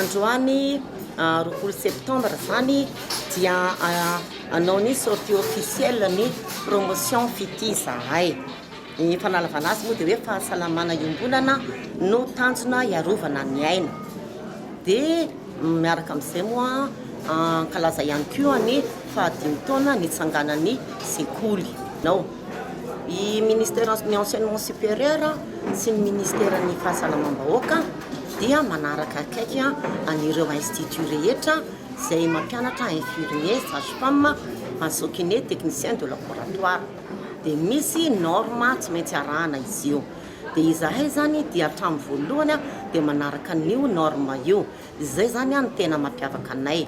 Androany roapolo septembre zany dia hanao ny sortie officielle ny promotion Fitia izahay. Ny fanalavana azy moa dia hoe fahasalamana iombonana no tanjona hiarovana ny aina. Dia miaraka amin'izay moa ankalaza ihany koa ny fahadimy taona nitsanganan'ny sekoly. I Ministère ny Enseignement Supérieur sy ny Ministère ny Fahasalamam-bahoaka dia manaraka akaiky an'ireo instituts rehetra izay mampianatra infirmier, sage-femme, maso kiné, technicien de laboratoire. Dia misy norme tsy maintsy arahana izy io. Dia izahay izany dia hatramin'ny voalohany dia manaraka an'io norme io. Izay izany no tena mampiavaka anay.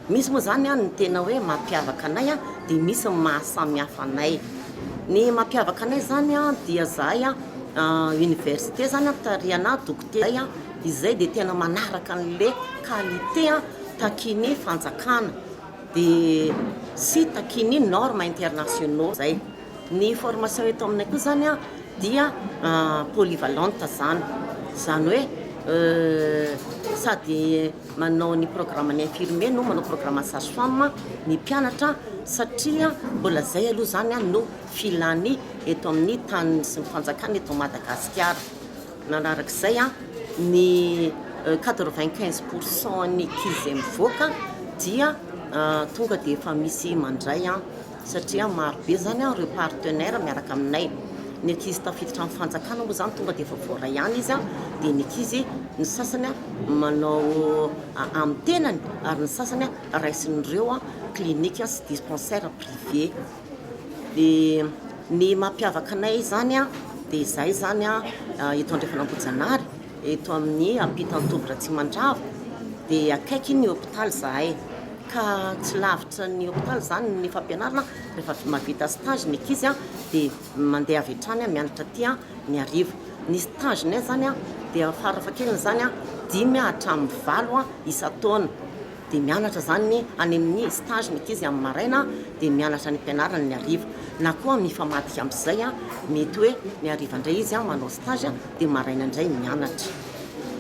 Misy moa zany an ny tena hoe mampiavaka anay an dia misy ny maha samy hafa anay. Ny mampiavaka anay zany an dia zahay an université zany an tarihana dokotera zay an izay dia tena manaraka anle qualité an takian'ny fanjakana dia sy takian'ny norme internationaux zay. Ny formation eto aminay koa zany an dia polyvalente zany. Zany hoe sady Manao ny programme ny infirmier no manao programme ny sage femme ny mpianatra satria mbola zay aloha zany no filany eto amin'ny taniny sy ny fanjakana eto Madagasikara. Manarak'izay ny quatre vingt quinze pour cent ny ankizy izay mivoaka dia tonga dia efa misy mandray satria maro be izany ireo partenaires miaraka aminay, ny ankizy tafiditra amin'ny fanjakana moa izany tonga dia efa voaray ihany izy dia ny ankizy ny sasany manao amin'ny tenany ary ny sasany raisin'ireo clinique sy dispensaire privé, dia ny mampiavaka anay izany dia izay izany eto Andrefan'Ambohijanahary. Eto amin'ny ampitan'i Toby Ratsimandrava dia akaiky ny hopitaly zahay ka tsy lavitra ny hopitaly izany ny fampianarana rehefa mahavita stage ny ankizy dia mandeha avy hatrany mianatra aty Miarivo. Ny stage-nay izany dia farafahakeliny izany dimy hatramin'ny valo isan-taona. dia mianatra izany ny any amin'ny stage ny ankizy amin'ny maraina dia mianatra ny am-pianarany ny hariva na koa mifamadika amin'izay mety hoe ny hariva indray izy manao stage dia ny maraina indray mianatra.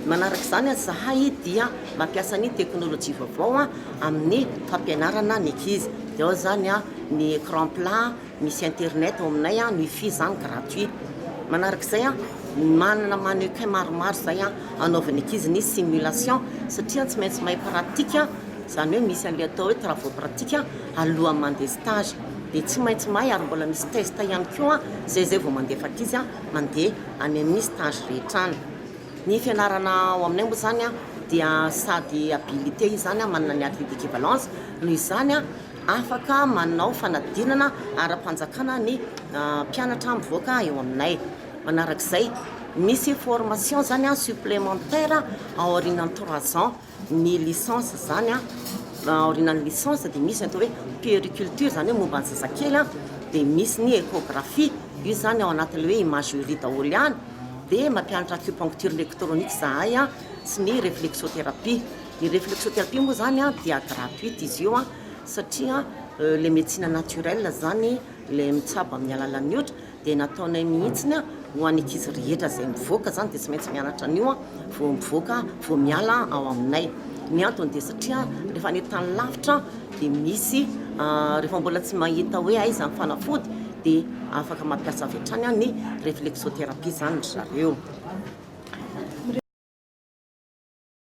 Manaraka izany ary izahay dia mampiasa ny teknolojia vaovao amin'ny fampianarana ny ankizy dia ao izany ny ecran plat, Misy internet ao aminay an, wifi zany gratuit. Manaraka izay an, manana mannequin maromaro izay an, anaovan'ny ankizy ny simulation satria tsy maintsy mahay pratique an, izany hoe misy an'ilay atao hoe travaux pratique alohan'ny mandeha stage. Dia tsy maintsy mahay ary mbola misy test ihany koa izay izay vao mandefa ankizy an, mandeha any amin'ny stage rehetra any. Ny fianarana ao aminay moa izany an, dia sady habilité izany an, manana ny acquis d'équivalence, noho izany an, Afaka manao fanadinana ara-panjakana ny mpianatra mivoaka eo aminay. Manarak'izay, misy formation zany supplémentaire aorianan'ny trois ans ny licence izany, aorianan'ny licence dia misy ny atao hoe puériculture izany hoe momba ny zazakely, dia misy ny échographie, io izany ao anatin'ilay hoe imagerie daholo ihany, dia mampianatra acupuncture électronique izahay sy ny réflexothérapie. Ny reflexothérapie moa zany a dia gratuite izy io a satria le médecine naturelle zany le mitsabo amin'ny alalan'ny otra dia nataonay mihitsiny a ho an'ny ankizy rehetra zay mivoaka zany dia tsy maintsy mianatra an'io a vao mivoaka vao miala ao aminay ny antony dia satria rehefa any tany lavitra dia misy rehefa mbola tsy mahita hoe aiza ny fanafody dia afaka mampiasa avy hatrany a ny reflexothérapie zany ry zareo